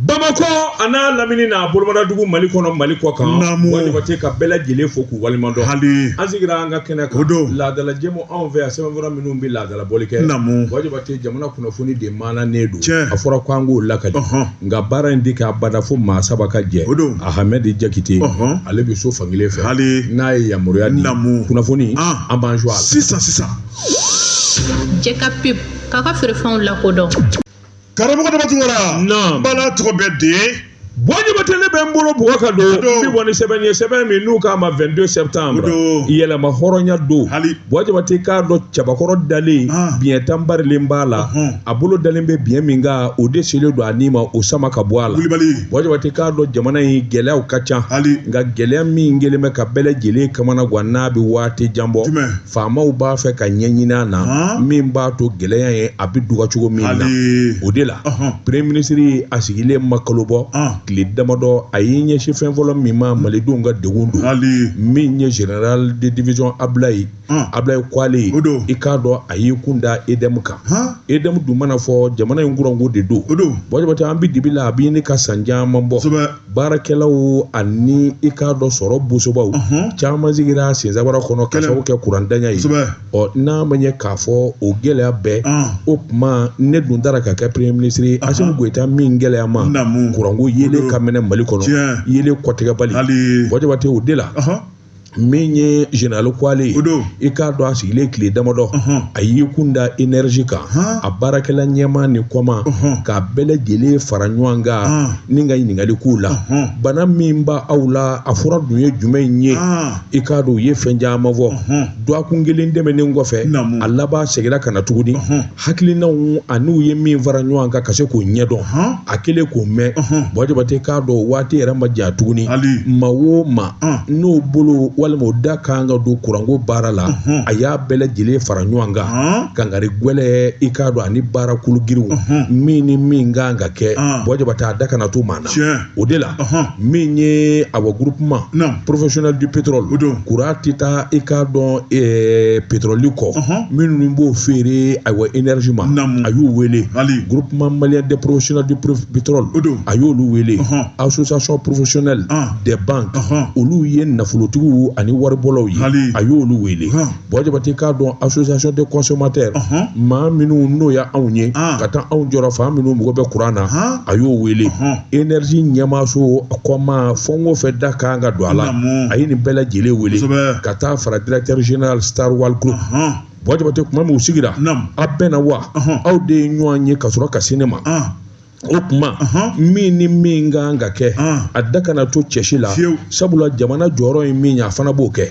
bamakɔ an'a lamini n'a bolomadadugu mali kɔnɔ mali kɔkan bwa jabate ka bɛɛ lajɛlen fo k'u waleɲumandɔn hali an sigira an ka kɛnɛ kan o don laadala jɛmu anw fɛ yan sɛbɛnfura minnu bɛ laadala bɔli kɛ namu bwa jabate jamana kunnafoni de maananen don tiɲɛ a fɔra ko an k'o lakali nka baara in tɛ k'abada fo maa saba ka jɛ o don ahamɛdi jakite ale bɛ so fankelen fɛ hali n'a ye yamaruya di namu kunnafoni an b'an jɔ sisan jɛkafɔ k'a ka feerefɛnw lakodɔn karamɔgɔ dama tunkara n bala tɔgɔ bɛ de bwa jabate ne bɛ n bolo bɔgɔ ka don bi bɔ ni sɛbɛn ye sɛbɛn min n'u k'a ma 22 septembre yɛrɛmahɔrɔnya don bwa jabate k'a dɔn cɛbakɔrɔ dalen ah. biɲɛ tan barilen b'a la a bolo dalen bɛ biɲɛ min kan o de selen don a ni ma o sama ka bɔ a la bwa jabate k'a dɔn jamana in gɛlɛyaw ka ca nka gɛlɛya min kɛlen bɛ ka bɛɛ lajɛlen kamana gan n'a bɛ waati jan bɔ Faamaw b'a fɛ ka ɲɛ ɲini a na min b'a to gɛlɛya in a bɛ dɔgɔya cogo min na o de la premier ministre a sigilen ma kalo bɔ tile damadɔ a y'i ɲɛsin fɛn fɔlɔ min ma malidenw ka degun don min ye général de division Ablaye Ablaye Kwale ye don i k'a dɔn a y'i kun da EDM kan EDM dun mana fɔ jamana in kuranko de don o don Bwa Jabate an bɛ dibi la a bɛ ɲini ka san caman bɔ baarakɛlaw ani i k'a dɔn sɔrɔ bɔsobaw caman sigira sensabara kɔnɔ ka sababu kɛ kuranntanya ye ɔ n'a ma ɲɛ k'a fɔ o gɛlɛya bɛɛ o tuma ne dun taara ka kɛ premier ministre ye Asimi Goyita min gɛlɛya ma kuranko yelen ka mɛnɛ Mali kɔnɔ yelen kɔtigɛbali Bwa Jabate o de la min ye général Kwale ye, o don, i k'a dɔn a sigilen tile damadɔ, a y'i kun da énergie kan, a baarakɛla ɲɛmaa ni kɔmaa, k'a bɛɛ lajɛlen fara ɲɔgɔn kan ni ka ɲininkali k'u la, bana min b'aw la, a fura dun ye jumɛn ye, i k'a dɔn u ye fɛn caman fɔ, dɔgɔkun kelen tɛmɛnen kɔfɛ, a laban seginna ka na tuguni. hakilinaw an'u ye min fara ɲɔgɔn kan ka se k'o ɲɛdɔn a kɛlen k'o mɛn bwa jabate k'a dɔn waati yɛrɛ ma janya tuguni maa o maa n'o bolo walima o da kan ka don kuranko baara la a y'a bɛɛ lajɛlen fara ɲɔgɔn kan kangari gwɛlɛn i k'a dɔn ani baara kologirinw min ni min kan ka kɛ bwa jabate a da kana to maa na o de la min ye awa groupement professionnel du pétrole o don kuran tɛ taa i k'a dɔn eh, pétrole kɔ minnu b'o feere awa énergie ma a y'u wele groupement malien des professionnels du pétrole o don a y'olu wele association professionnelle des banques olu ye nafolotigiw ani waribɔlaw ye a y'olu wele bwa jabate k'a dɔn association des consommateurs maa minnu n'o y' anw ye ka taa anw jɔyɔrɔ fa minnu mago bɛ kuran na a y'o wele énergie ɲɛmaaso a kɔmaa fɛn o fɛn da kan ka don a la a ye nin bɛɛ lajɛlen wele ka taa fara directeur général star oil group bwa jabate tuma min u sigira a bɛnna wa aw de ye ɲɔgɔn ye ka sɔrɔ ka se ne ma o kuma min ni min kan ka kɛ a da kana to cɛsi la sabula jamana jɔyɔrɔ ye min ye a fana b'o kɛ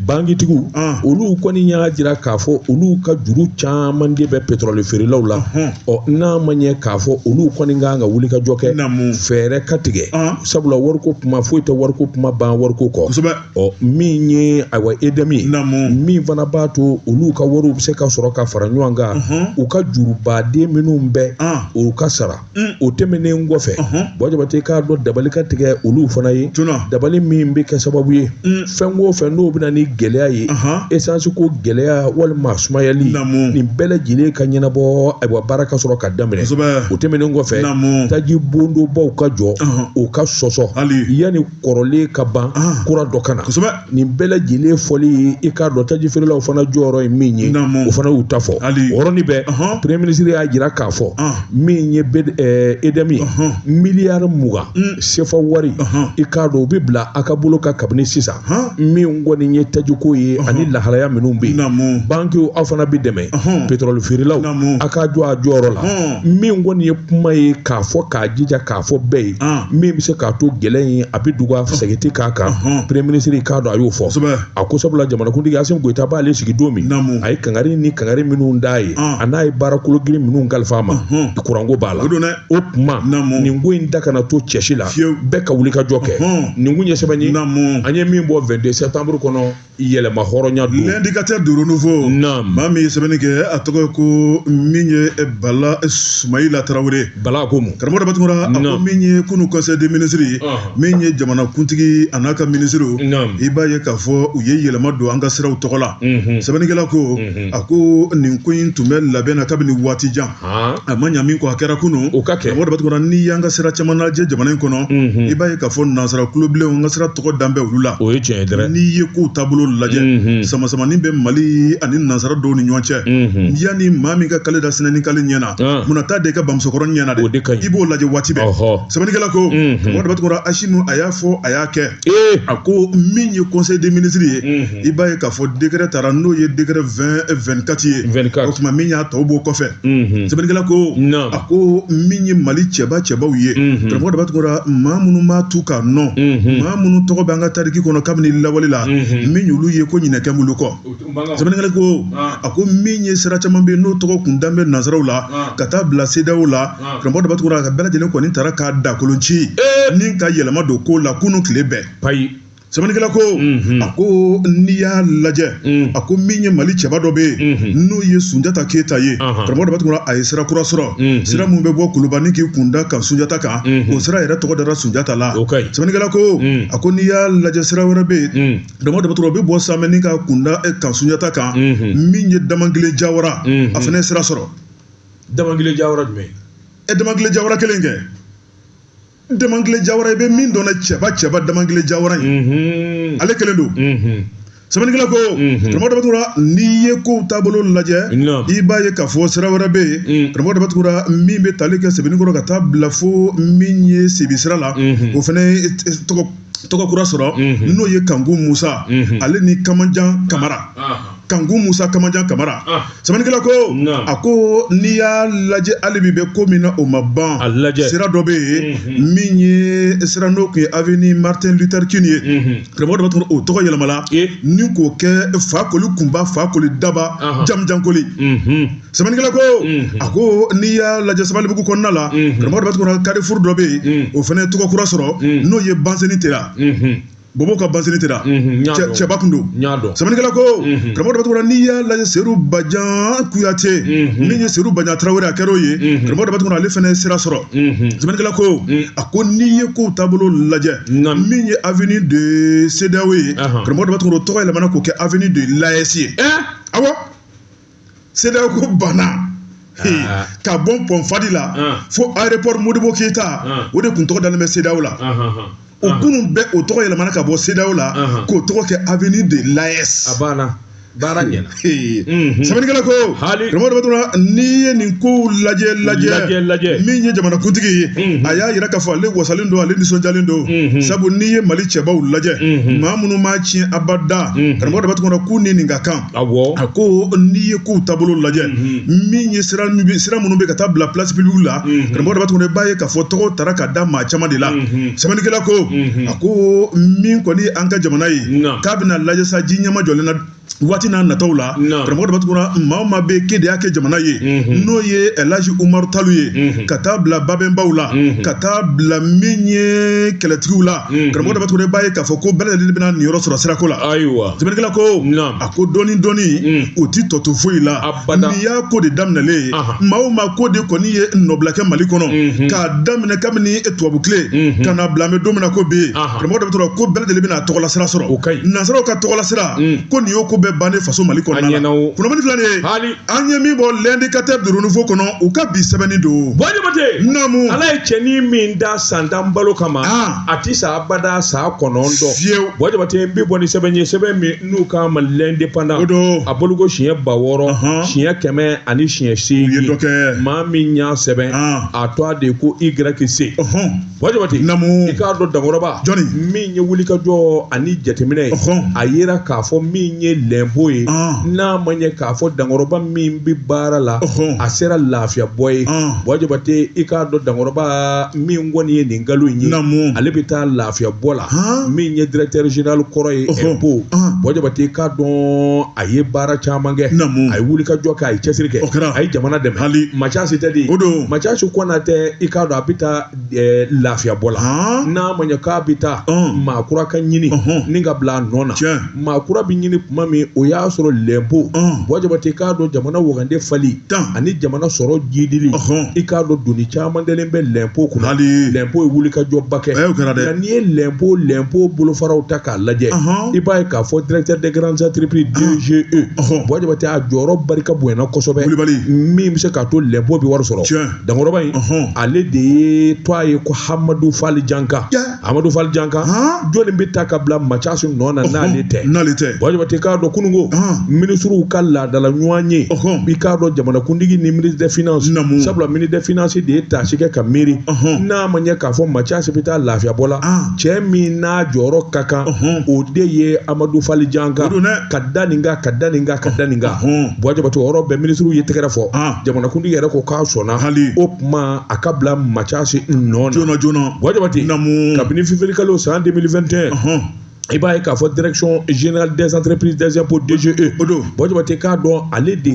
bankitigiw olu kɔni y'a jira k'a fɔ olu ka juru caman de bɛ petrɔli feerelaw la ɔ n'a ma ɲɛ k'a fɔ olu kɔni kan ka wuli ka jɔ kɛ fɛɛrɛ ka tigɛ sabula wariko kuma foyi tɛ wariko kuma ban wariko kɔ ɔ min ye ayiwa EDM ye min fana b'a to olu ka wariw bɛ se ka sɔrɔ ka fara ɲɔgɔn kan u ka jurubaden minnu bɛ u ka sara o tɛmɛnen kɔfɛ Bɔ Jabate k'a dɔn dabali ka tigɛ olu fana ye dabali min bɛ kɛ sababu ye fɛn o fɛn n'o bɛ na ni gɛlɛya ye esansi ko gɛlɛya walima sumayali nin bɛɛ lajɛlen ka ɲɛnabɔ ayiwa baara ka sɔrɔ ka daminɛ o tɛmɛnen kɔfɛ taji bondonbaw ka jɔ u ka sɔsɔ yanni kɔrɔlen ka ban kura dɔ ka na nin bɛɛ lajɛlen fɔli ye i k'a dɔn taji feerelaw fana jɔyɔrɔ ye min ye o fana y'u ta fɔ o yɔrɔnin bɛɛ premier ministre y'a jira k'a fɔ min ye EDM ye miliyari mugan mm. sefa wari i k'a dɔn u bɛ bila a ka bolo kan kabini sisan min kɔni ye tajiko ye ani lahalaya minnu bɛ yen bankiw aw fana bɛ dɛmɛ pétrole feerelaw a ka jɔ a jɔyɔrɔ la min kɔni ye kuma ye k'a fɔ k'a jija k'a fɔ bɛɛ ye ah. min bɛ se k'a to gɛlɛya in a bɛ dɔgɔya siga tɛ k'a kan premier ministre k'a dɔn a y'o fɔ a ko sabula jamanakuntigi Asimi Goyita b'ale sigi don min a ye kangari ni kangari minnu d'a ye ah. a n'a ye baara kologirin minnu kalifa a ma kuranko b'a la o tuma nin ko in da kana to cɛsi la bɛɛ ka wuli ka jɔ kɛ nin kun ye sɛbɛn ye an ye min bɔ 22 septembre kɔnɔ yɛlɛma hɔrɔnya don l'Indicateur du Renouveau naam maa min ye sɛbɛnni kɛ a tɔgɔ ye ko min ye eh, Bala eh, Sumayila Tarawele Bala ko mun karamɔgɔ Daba Tunkara a ko min ye kunu conseil des ministres ye min ye jamanakuntigi a n'a ka minisiriw i b'a ye k'a fɔ u ye yɛlɛma don an ka siraw tɔgɔ la sɛbɛnnikɛla ko a ko nin ko in tun bɛ labɛn na kabini waati jan a ma ɲa min kɔ a kɛra kunun karamɔgɔ Daba n'i y'an ka sira caman lajɛ jamana in kɔnɔ i b'a ye k'a fɔ nansara kulobilenw an ka sira tɔgɔ dan bɛ olu la o ye tiɲɛ ye dɛ n'i ye kow taabolo lajɛ samasamani bɛ Mali ani nansara dɔw ni ɲɔgɔn cɛ yanni maa min ka kale da sinɛni kale ɲɛ na munna i t'a d'i ka bamusokɔrɔ ɲɛ na dɛ i b'o lajɛ waati bɛɛ sɛbɛnnikɛla ko karamɔgɔ Daba Tunkara Asimi a y'a fɔ a y'a kɛ Ee a ko min ye conseil des ministres ye i b'a ye k'a fɔ décret tara n'o ye décret 2024 ye o tuma min y'a tɔw b'o kɔfɛ sɛbɛnnikɛla ko a ko min ye Mali cɛba cɛbaw ye karamɔgɔ Daba Tunkara maa minnu m'a to ka nɔ maa minnu tɔgɔ bɛ an ka tariki kɔnɔ kabini lawale la min y'olu ye ko ɲinɛ kɛlen b'olu kɔ sɛbɛnnikɛla ko a ko min ye sira caman bɛ yen n'o tɔgɔ kun dan bɛ nansaraw la ka taa bila CEDEAO la karamɔgɔ daba tunkara ka bɛɛ lajɛlen kɔni taara k'a dakolo ci ni ka yɛlɛma don ko la kunun tile bɛɛ payi sɛbɛnnikɛla ko a ko n'i y'a lajɛ a ko min ye mali cɛba dɔ bɛ yen n'o ye sunjata keyita ye karamɔgɔ daba tunkara a ye sira kura sɔrɔ sira min bɛ bɔ kuluba ni k'i kunda kan sunjata kan o sira yɛrɛ tɔgɔ dara sunjata la sɛbɛnnikɛla ko a ko n'i y'a lajɛ sira wɛrɛ bɛ yen karamɔgɔ daba tunkara o bɛ bɔ samɛ ni k'a kunda kan sunjata kan min ye damangile jawara a fana ye sira sɔrɔ damangile jawara jumɛn ye ɛ damangile jawara kelen kɛ damangile jawara i bɛ min dɔn na cɛba cɛba damangile jawara ye mhm. ale kelen don mhm. sɛbɛnnikɛla ko mhm. karamɔgɔ daba tunkara n'i ye kow taabolo lajɛ i b'a ye k'a fɔ sira wɛrɛ bɛ yen mm. karamɔgɔ daba tunkara min bɛ tali kɛ sebeninkɔrɔ ka taa bila fo min ye sibi sira la o fana tɔgɔ kura sɔrɔ n'o ye kanku musa ale ni kamanjan kamara ah, ah. kanku musa kamanjan kamara ah. sɛbɛnnikɛla ko a ko n'i y'a lajɛ hali bi bɛ ko min na o ma ban sira dɔ bɛ yen mhm. min ye sira n'o kun ye aveni martin luther king ye mhm. karamɔgɔ daba tunkara o tɔgɔ yɛlɛmala ni k'o kɛ fakoli kunba fakoli daba jamujankoli mhm. sɛbɛnnikɛla ko a ko n'i y'a lajɛ sabalibugu kɔnɔna la karamɔgɔ daba tunkara karifuru dɔ bɛ yen o fana ye tɔgɔ kura sɔrɔ n'o ye banseni tera bɔbɔ ka banseni tera cɛba kun don sɛbɛnnikɛla ko karamɔgɔ daba tunkara n'i y'a lajɛ seyidu bajan kuyate min ye seyidu bajan tarawele a kɛra o ye karamɔgɔ daba tunkara ale fana ye sira sɔrɔ sɛbɛnnikɛla ko a ko n'i ye kow taabolo lajɛ min ye aveni de sedeyaw ye karamɔgɔ daba tunkara o tɔgɔ yɛlɛmana k'o kɛ aveni de layɛsi ye awɔ sedeyaw ko banna ah. ka bɔ pɔn fadi la ah. fo aéroport modibo keyita ah. o de kun tɔgɔ dalen bɛ sedeyaw la o kunun bɛɛ o tɔgɔ yɛlɛmana ka bɔ sedeyaw la k'o tɔgɔ kɛ avenue de l'aes a banna baara ɲɛna mhm. sɛbɛnnikɛla ko karamɔgɔ daba tunkara n'i ye nin kow lajɛ lajɛ min ye jamanakuntigi ye mhm. a y'a yira k'a fɔ ale wasalen don ale nisɔndiyalen don mhm. sabu n'i ye mali cɛbaw lajɛ maa minnu m'a tiɲɛ abada karamɔgɔ daba tunkara k'u ni nin ka kan a ko n'i ye kow taabolo lajɛ min ye sira minnu bɛ ka taa bila place publique la karamɔgɔ daba tunkara i b'a ye k'a fɔ tɔgɔ taara ka da maa caman de la sɛbɛnnikɛla ko a ko min kɔni ye an ka jamana ye k'a bɛna lajɛ sa ji ɲɛmajɔlen na waati n'a nataw la karamɔgɔ daba tunkara maa o maa bɛ ke de y'a kɛ jamana ye n'o ye ɛlaji umaru talu ye ka taa bila babɛnbaw la ka taa bila min ye kɛlɛtigiw la Mm-hmm. Karamɔgɔ daba tunkara i b'a ye k'a fɔ ko bɛɛ lajɛlen bɛna niyɔrɔ sɔrɔ sirako la ayiwa sɛbɛnnikɛla ko a ko dɔɔni dɔɔni mm. o ti tɔ to foyi la n'i y'a ko de daminɛlen maa o maa ko de kɔni ye nɔbila kɛ mali kɔnɔ mm-hmm. k'a daminɛ kabini tubabu tile mm-hmm. ka na bila an bɛ don min na ko bi karamɔgɔ daba tunkara ko bɛɛ lajɛlen bɛna tɔgɔla sira sɔrɔ nansaraw ka tɔgɔla sira mm. ko nin y'o ko bɛɛ bannen faso mali kɔnɔna la kunnafoni fila de ye an ye min bɔ l'indicateur du renouveau kɔnɔ u ka bi sɛbɛnni don bɔ jabate namu ala ye cɛnin min da san tan balo kama ah. a ti sa abada san kɔnɔntɔn fiyewu bɔ jabate n bɛ bɔ ni sɛbɛn ye sɛbɛn min n'u k'a ma l'indépendant o don a boloko siɲɛ ba wɔɔrɔ siɲɛ kɛmɛ ani siɲɛ seegin maa min y'a sɛbɛn ah. a tɔgɔ de ko YC Bɔ jabate namu i k'a dɔn dankɔrɔba jɔni min ye wulikajɔ ani jateminɛ ye a yera k'a fɔ min ye lɛnpo ye n'a ma ɲɛ k'a fɔ dankɔrɔba min bɛ baara la a sera lafiya bɔ ye bɔ jabate i k'a dɔn dankɔrɔba min kɔni ye nin kalo in ye namu ale bɛ taa lafiya bɔ la min ye directeur général kɔrɔ ye impôt bɔ jabate i k'a dɔn a ye baara caman kɛ namu a ye wulikajɔ kɛ a ye cɛsiri kɛ a ye jamana dɛmɛ hali maa si tɛ dɛ o don Mathias Konate i k'a dɔn a bɛ taa lafiya bɔ la n'a ma ɲɛ k'a bɛ taa maa kura ka ɲini ni ka bila a nɔ na maa kura bɛ ɲini tuma min o y'a sɔrɔ lɛnpo bɔ jabate k'a dɔn jamana wagande fali ani jamana sɔrɔ jidili i k'a dɔn doni caman dalen bɛ lɛnpo kunna lɛnpo ye wulikajɔba kɛ nka n'i ye lɛnpo lɛnpo bolofaraw ta k'a lajɛ i b'a ye k'a fɔ directeur des grandes entreprises DGE bɔ jabate a jɔyɔrɔ barika bonyana kosɛbɛ min bɛ se k'a to lɛnpo bɛ wari sɔrɔ dankɔrɔba in ale de ye tɔgɔ ye ko hamadu fali janka hamadu fali janka jɔnni bɛ ta ka bila Mathias nɔ na n'ale tɛ n'ale tɛ bɔ jabate k'a dɔn kununko minisiriw ka laadala ɲɔgɔnye i k'a dɔn jamanakuntigi ni ministre des finances sabula ministre des finances de ye taasi kɛ ka miiri n'a ma ɲɛ k'a fɔ Mathias bɛ taa lafiyabɔ la cɛ min n'a jɔyɔrɔ ka kan o de ye amadu fali janka ka da nin kan ka da nin kan ka da nin kan bɔ jabate o yɔrɔ bɛɛ minisiriw ye tɛgɛrɛ fɔ jamanakuntigi yɛrɛ ko k'a sɔnna hali o tuma a ka bila Mathias nɔ na joona bɔ jabate namu kabini février kalo san 2021 i b'a ye k'a fɔ direction générale des entreprises des impôts DGE o don bɔ jabate k'a dɔn ale de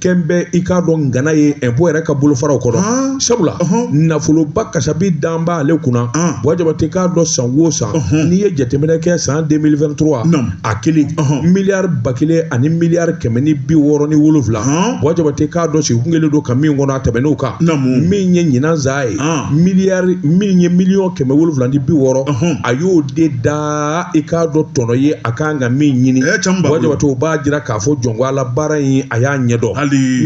kɛn bɛ i k'a dɔn ngana ye impôt yɛrɛ ka bolofaraw kɔnɔ sabula nafoloba kasabi dan b'ale kunna bɔ jabate k'a dɔn san o san n'i ye jateminɛ kɛ san 2023 a kelen miliyari ba kelen ani miliyari kɛmɛ ni bi wɔɔrɔ ni wolonwula bɔ jabate k'a dɔn sigi kun kelen don ka min kɔnɔ a tɛmɛn'o kan min ye ɲinan san ye miliyari min ye miliyɔn kɛmɛ wolonwula ni bi wɔɔrɔ a y'o de da i k'a dɔn tɔnɔ ye a kan ka min ɲini bɔ jabate o b'a jira k'a fɔ jɔn ko ala baara in a y'a ɲɛdɔn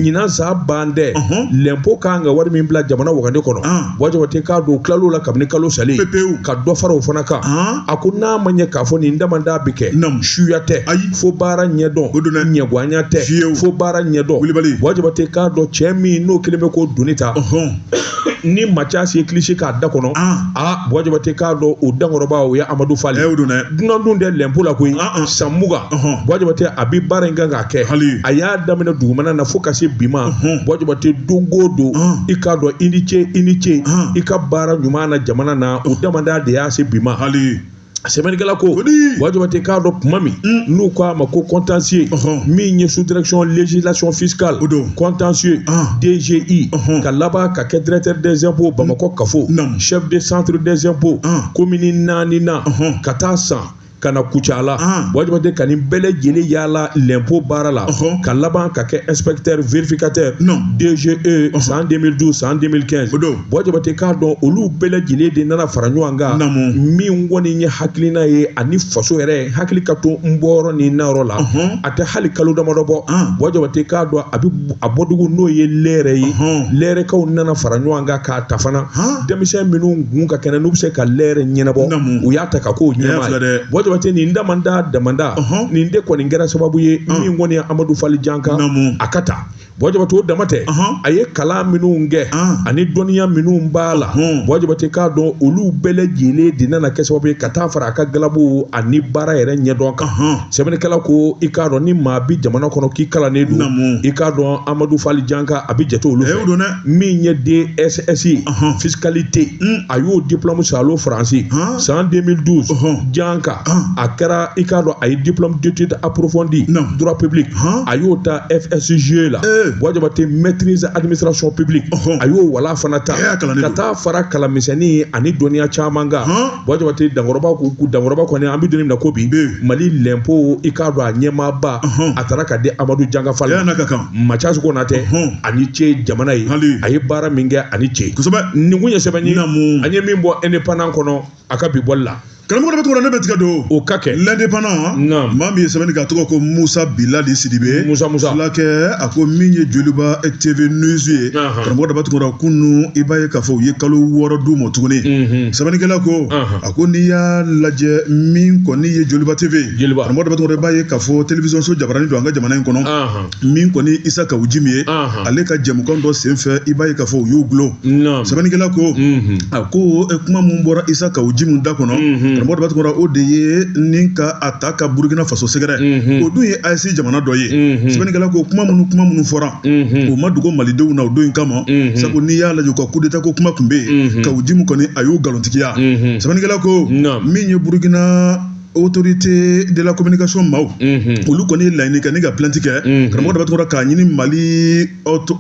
ɲinan san ban dɛ lɛnpo kan ka wari min bila jamana wagande kɔnɔ bɔ jabate k'a dɔn tilal'o la kabini kalo salen ka dɔ fara o fana kan a ko n'a ma ɲɛ k'a fɔ nin damanda bɛ kɛ suya tɛ ayi fo baara ɲɛdɔn o donna ɲɛguanya tɛ fo baara ɲɛdɔn kulubali buwa jabate k'a dɔn cɛ min n'o kelen bɛ k'o doni ta ni macasi ye kilisi k'a da kɔnɔ aa buwa jabate k'a dɔn o dankɔrɔba o ye amadu fali dunan dun tɛ lɛnpo la koyi san mugan buwa jabate a bɛ baara in kan k'a kɛ hali a y'a daminɛ dugumana na fo ka se bi ma buwa jabate don o don i k'a dɔn i ni ce i ni ce i ka baara ɲuman na jamana na o damanda de y'a se bi ma hali sɛbɛnnikɛla ko buwa jabate k'a dɔn tuma min mm. n'u ko a ma ko contentieux min ye sous direction législation fiscale contentieux ah. DGI ka laban ka kɛ directeur des impôts bamakɔ kafo chef de centre des impôts komini ah. naani na ka taa san ka na kucala buwa jabate ka nin bɛɛ lajɛlen yaala lɛnpo baara la ka laban ka kɛ inspecteur vérificateur DGE san 2012 san 2015 o don buwa jabate k'a dɔn olu bɛɛ lajɛlen de nana fara ɲɔgɔn kan min kɔni ye hakilina ye ani faso yɛrɛ hakili ka to n bɔyɔrɔ ni nayɔrɔ la a tɛ hali kalo damadɔ bɔ buwa jabate k'a dɔn a bɛ a bɔdugu n'o ye lɛrɛ ye lɛrɛkaw nana fara ɲɔgɔn kan ta fana denmisɛn minnu gun ka kɛnɛ n'u bɛ se ka lɛrɛ ɲɛnabɔ u y'a ta ka k'o ɲɛmaa ye buwa jabate nin damanda damanda nin de kɔni kɛra sababu ye min kɔni ye amadu fali janka a ka ta buwa jabate o dama tɛ a ye kalan minnu kɛ ani dɔnniya minnu b'a la buwa jabate k'a dɔn olu bɛɛ lajɛlen de nana kɛ sababu ye ka taa fara a ka galabu ani baara yɛrɛ ɲɛdɔn kan sɛbɛnnikɛla ko i k'a dɔn ni maa bi jamana kɔnɔ k'i kalannen don i k'a dɔn amadu fali janka a bɛ jate olu fɛ min ye DSS ye fiscalité a y'o diplôme salo faransi san 2012 janka a kɛra i k'a dɔn a ye diplôme d'études approfondies droit public a y'o ta FSJE la Buwa Jabate maîtrise administration publique a y'o wala fana ta ka taa fara kalan misɛnnin ani dɔnniya caman kan Buwa Jabate dankɔrɔba ko dankɔrɔba kɔni an bɛ don min na ko bi Mali lɛnpo i k'a dɔn a ɲɛmaabaya tara ka di Amadu Janka Fali ma. macasi konatɛ ani ce jamana ye a ye baara min kɛ ani ce kosɛbɛ nin kun ye sɛbɛn ye an ye min bɔ indépendant kɔnɔ a ka bi bɔli la karamɔgɔ daba tunkara ne bɛ tigɛ don o ka kɛ l'indépendant maa min ye sɛbɛnni k'a tɔgɔ ko musa bilali sidibe musa musa filakɛ a ko min ye joliba tv news ye karamɔgɔ daba tunkara kunun i b'a ye k'a fɔ u ye kalo wɔɔrɔ d'u ma tuguni sɛbɛnnikɛla ko a ko n'i y'a lajɛ min kɔni ye joliba tv karamɔgɔ daba tunkara i b'a ye k'a fɔ télévision so jabarani don an ka jamana in kɔnɔ min kɔni isa kawu njim ye ale ka jɛmukan dɔ senfɛ i b'a ye k'a fɔ u y'u gulon sɛbɛnnikɛla ko a ko e, kuma min bɔra isa kawu njim da kɔnɔ karamɔgɔ daba tunkara o de ye ni ka a ta ka burukina faso sɛgɛrɛ o dun ye AES jamana dɔ ye sɛbɛnnikɛla ko kuma minnu kuma minnu fɔra o ma dogo malidenw na o don in kama sabu n'i y'a lajɛ u ka kudeta ko kuma tun bɛ yen kawu njim kɔni a y'o nkalontigiya sɛbɛnnikɛla ko min ye burukina autorité de la communication maaw olu kɔni ye laɲini kɛ ni ka plainte kɛ karamɔgɔ daba tunkara k'a ɲini mali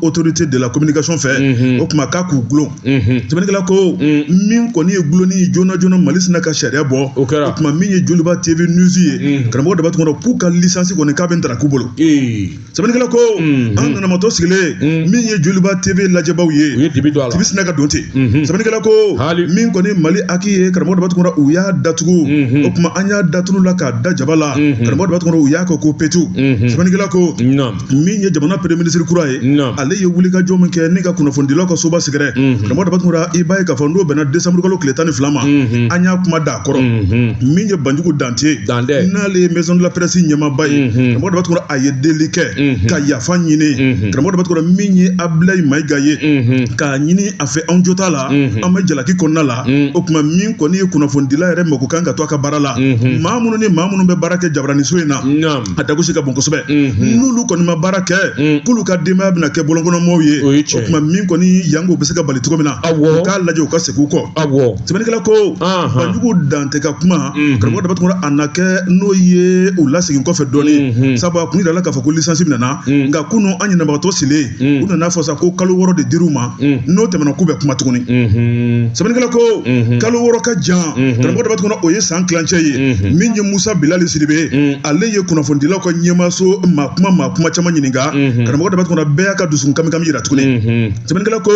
autorité de la communication fɛ o kuma k'a k'u gulon sɛbɛnnikɛla ko min kɔni ye gulonni ye joona joona mali sinna ka sariya bɔ o kɛra o kuma min ye joliba tv news ye karamɔgɔ daba tunkara k'u ka lisansi kɔni k'a bɛ ntarak'u bolo sɛbɛnnikɛla ko mhm. an ɲɛnamatɔ sigilen mhm. min ye joliba tv lajɛbaw ye u ye dibi don a la dibi sinna ka don ten mhm. sɛbɛnnikɛla ko min kɔni mali HAC ye karamɔgɔ daba tunkara u y'a datugu o kuma an y'a da tulu la k'a da jaba la karamɔgɔ daba tunkara u y'a kɛ ko petu sɛbɛnnikɛla ko min ye jamana premier ministre kura ye ale ye wulikajɔ min kɛ ni ka kunnafonidilaw ka soba sɛgɛrɛ karamɔgɔ daba tunkara i b'a ye k'a fɔ n'o bɛnna desanburukalo tile tan ni fila ma an y'a kuma da a kɔrɔ min ye banjugu dan Te Dante n'ale ye maison de la presse ɲɛmaaba ye unhun karamɔgɔ Daba Tunkara a ye deli kɛ unhun ka yafa ɲini unhun karamɔgɔ Daba Tunkara min ye Abilayi Mayiga ye unhun k'a ɲini a fɛ anw jo t'a la unhun an bɛ jalaki kɔnɔna la un o kuma min kɔni ye kunnafonidila yɛrɛ mako kan ka to a ka baara la unhun maa minnu ni maa minnu bɛ baara kɛ jabaraniso in na naam a dagosi ka bon kosɛbɛ unhun n'olu kɔni ma baara kɛ un k'olu ka denbaya bɛna kɛ bɔlɔnkɔnɔmɔɔw ye o ye tiɲɛ ye kuma min kɔni yango bɛ se ka bali cogo min na awɔ u k'a lajɛ u ka segin u kɔ awɔ sɛbɛnnikɛla ko anhan Banjugu Dan Te ka kuma karamɔgɔ daba tunkara a na kɛ n'o ye u lasegin kɔfɛ dɔɔnin sabu a kun jirala k'a fɔ ko lisansi minɛna nka kunun an ɲɛnabagatɔ sigilen u nan'a fɔ sa ko kalo wɔɔrɔ de dir'u ma n'o tɛmɛna k'u bɛ kuma tuguni sɛbɛnnikɛla ko kalo wɔɔrɔ ka jan karamɔgɔ daba tunkara o ye san kilancɛ ye min ye musa bilali sidibe ale ye kunnafonidilaw ka ɲɛmaaso maa kuma maa kuma caman ɲininka karamɔgɔ daba tunkara bɛɛ y'a ka dusukun kami yira tuguni sɛbɛnnikɛla ko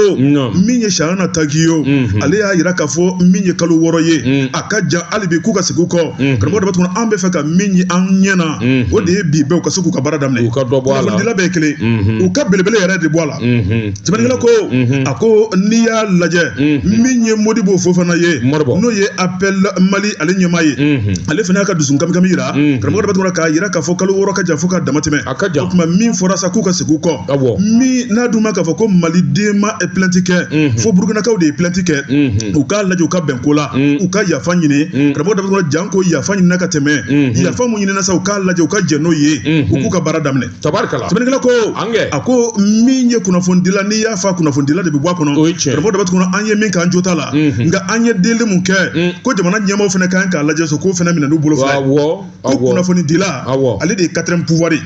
min ye shahana takiyu ale y'a yira k'a fɔ min ye kalo wɔɔrɔ ye a ka jan hali bi k'u ka segin u kɔ karamɔgɔ daba tunkara an bɛ fɛ ka min ye an ɲɛ na o de ye bi bɛɛ u ka se k'u ka baara daminɛ u ka dɔ bɔ a la kunnafonidila bɛɛ kelen u ka belebele yɛrɛ de bɔ a la sɛbɛnnikɛla ko a ko n'i y'a lajɛ min ye modibo fofana ye n'o ye appel mali ale ɲɛmaa ye ale fana y'a ka dusu kamikami yira karamɔgɔ daba tunkara k'a yira k'a fɔ kalo wɔɔrɔ ka jan fo ka dama tɛmɛ a ka jan o kuma min fɔra sa k'u ka segin u kɔ awɔ min n'a dun ma k'a fɔ ko maliden ma plainte kɛ mhm. fo burukinakaw de ye plainte kɛ mhm. u k'a lajɛ u ka bɛn ko la mhm. u ka yafa ɲini karamɔgɔ daba tunkara janko yafa ɲinina ka tɛmɛ yafa mun ɲinina sa u k'a lajɛ u ka jɛn n'o ye u k'u ka baara daminɛ tabarikala sɛbɛnnikɛla ko a ko min ye kunnafonidila n'i y'a fa kunnafonidila de bɛ bɔ a kɔnɔ karamɔgɔ daba tunkara an ye min k'an jo t'a la nka an ye deli mun kɛ ko jamana ɲɛmaaw fana kan k'a lajɛ so k'o fana minɛ n'u bolo fila ko kunnafonidila ale de ye quatrième pouvoir ye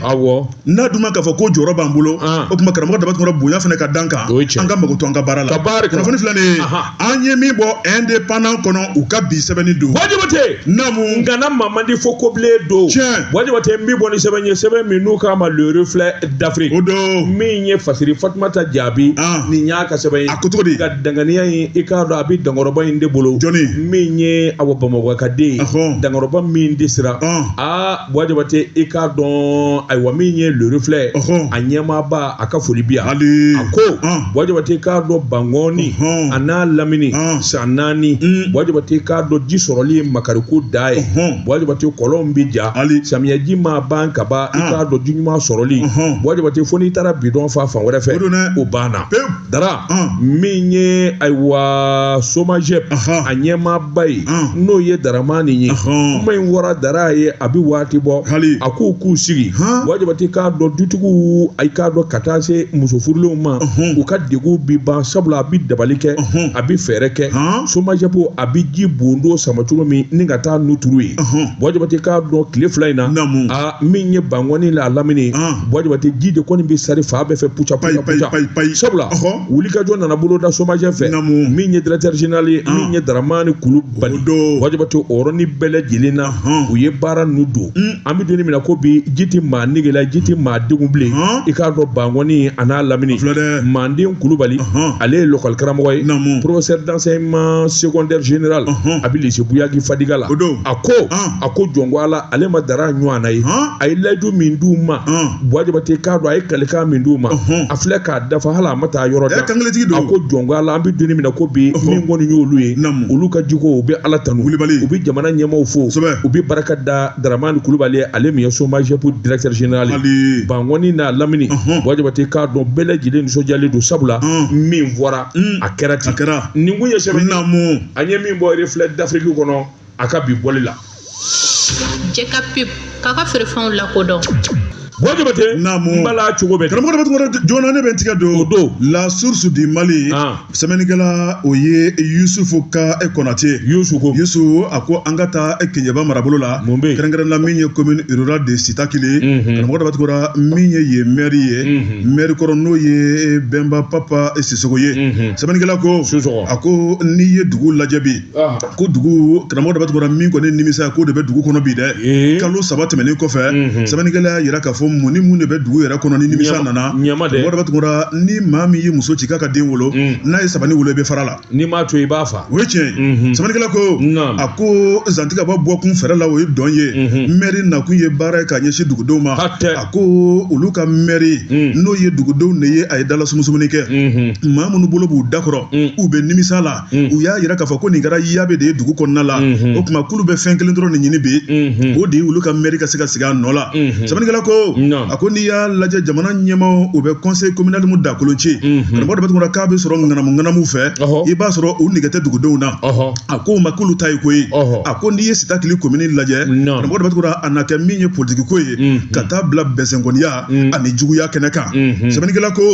n'a dun ma k'a fɔ ko jɔyɔrɔ b'an bolo o kuma karamɔgɔ dama tun bonya fana ka dan kan an ka mago to an ka baara la kunnafoni filɛ nin ye an ye min bɔ indépendant kɔnɔ u ka bi sɛbɛnni don Buwa Jabate naamu ngana maa man di fo kobilen don tiɲɛ Buwa Jabate n bɛ bɔ ni sɛbɛn ye sɛbɛn min n'u k'a ma le reflet d'Afrique o don min ye fasiri Fatumata Jaabi nin y'a ka sɛbɛn ye a ko cogo di ka danganiya in i k'a dɔn a bɛ dankɔrɔba in de bolo jɔni min ye Awa Bamakɔ ka den ye dankɔrɔba min de sera aa Buwa Jabate i k'a dɔn ayiwa min ye le reflet a ɲɛmaaba a ka foli bi yan a ko Buwa Jabate k'a dɔn Bankɔni a n'a lamini san naani Buwa Jabate k'a dɔn ji sɔrɔli ye makariko dan ye Buwa Jabate kɔlɔn bɛ ja samiyaji ma ban ka ban i k'a dɔn ji ɲuman sɔrɔli Buwa Jabate fo n'i taara bidɔn fa fan wɛrɛ fɛ o banna Dara min ye ayiwa Somagep a ɲɛmaaba ye n'o ye Daramani ye kuma in wara Dara ye a bɛ waati bɔ hali a k'u k'u sigi Buwa Jabate k'a dɔn dutigiw i k'a dɔn ka taa se muso furulenw ma u ka degun bi ban sabula a bɛ dabali kɛ a bɛ fɛɛrɛ kɛ Somagep a bɛ jibondo sama cogo min ni ka taa ninnu turu yen Buwa Jabate k'a dɔn tile fila in na min ye bankɔni n'a lamini Buwa Jabate ji de kɔni bɛ sari fan bɛɛ fɛ puca puca puca sabula wulikajɔ nana boloda Somagep fɛ min ye directeur général ye min ye Daramani Kulubali Buwa Jabate o yɔrɔnin bɛɛ lajɛlen na u ye baara ninnu don an bɛ donni min na ko bi ji tɛ maa nege la ji tɛ maa degun bilen i k'a dɔn bankɔni a n'a lamini manden Kulubali ale ye lɔkɔli karamɔgɔ ye professeur d'enseignement secondaire général a bɛ lycée Buyagi Fadiga la a ko a ko jɔn ko ala ale ma dara ɲɔgɔn na ye a ye layidu min d'u ma Buwa Jabate k'a dɔn a ye kalikan min d'u ma a filɛ k'a dafa hali a ma taa yɔrɔ jan a ko jɔn ko ala an bɛ donni min na ko bi min kɔni y'olu ye olu ka jiko u bɛ ala tanu u bɛ jamana ɲɛmaaw fo u bɛ barika da daramani kulubali ale min ye Somagep directeur général ye bankɔni n'a lamini Buwa Jabate k'a dɔn bɛɛ lajɛlen nisɔndiyalen don sabula min fɔra a kɛra ten nin kun ye sɛbɛn an ye min bɔ reflet d'Afrique kɔnɔ a ka bi bɔli la jɛ ka pep k'a ka feerefɛnw lakodɔn Buwa Jabate Naamu. n bala cogo bɛ karamɔgɔ dama tɔgɔ joona ne bɛ n tigɛ don O don. la source du mali Ah. sɛbɛnnikɛla o ye yusufu ka kɔnate yusu ko yusu a ko an ka taa e Keɲeba marabolo la Mun bɛ yen? kɛrɛnkɛrɛnna min ye commune rurale de Sitakili Mhm. karamɔgɔ dama tɔgɔra min ye yen maire ye Mhm. maire kɔrɔ n'o ye bɛnba papa sisɔgɔ ye Mhm. sɛbɛnnikɛla ko Sisɔgɔ. a ko n'i ye dugu lajɛ bi ko dugu karamɔgɔ daba tunkara min kɔni nimisa ko de bɛ dugu kɔnɔ bi dɛ kalo saba tɛmɛnen kɔfɛ sɛbɛnnikɛla y'a jira k'a fɔ mun ni mun de bɛ dugu yɛrɛ kɔnɔ ni nimisa nana karamɔgɔ daba tunkara ni maa min ye muso ci k'a ka den wolo n'a ye sabani wolo i bɛ fara la n'i m'a to i b'a faa o ye tiɲɛ sɛbɛnnikɛla ko a ko zantigaba bɔ kun fɛrɛ la o ye dɔn ye mɛri nakun ye baara ye k'a ɲɛsin dugudenw ma a ko olu ka mɛri n'o ye dugudenw de ye a ye dala sumusumuni kɛ maa minnu bolo b'u dakɔrɔ u bɛ nimisa la mm. u y'a yira k'a fɔ ko nin kɛra yabe de ye dugu kɔnɔna la mm-hmm. o tuma k'olu bɛ fɛn kelen dɔrɔn de ɲini bi mm-hmm. o de ye olu ka mɛri ka se ka sigi a nɔ la mm-hmm. sɛbɛnnikɛla ko a ko n'i y'a lajɛ jamana ɲɛmaaw u bɛ conseil communal mu dakolon ci karamɔgɔ daba tunkara k'a bɛ sɔrɔ ŋanamu ŋanamu fɛ i b'a sɔrɔ u nɛgɛ tɛ dugudenw na a ko ma k'olu ta ye koyi a ko n'i ye sitakili komini lajɛ karamɔgɔ daba tunkara a na kɛ min ye politiki ko ye ka taa bila bɛnsɛnkɔniya ani juguya kɛnɛ kan sɛbɛnnikɛla ko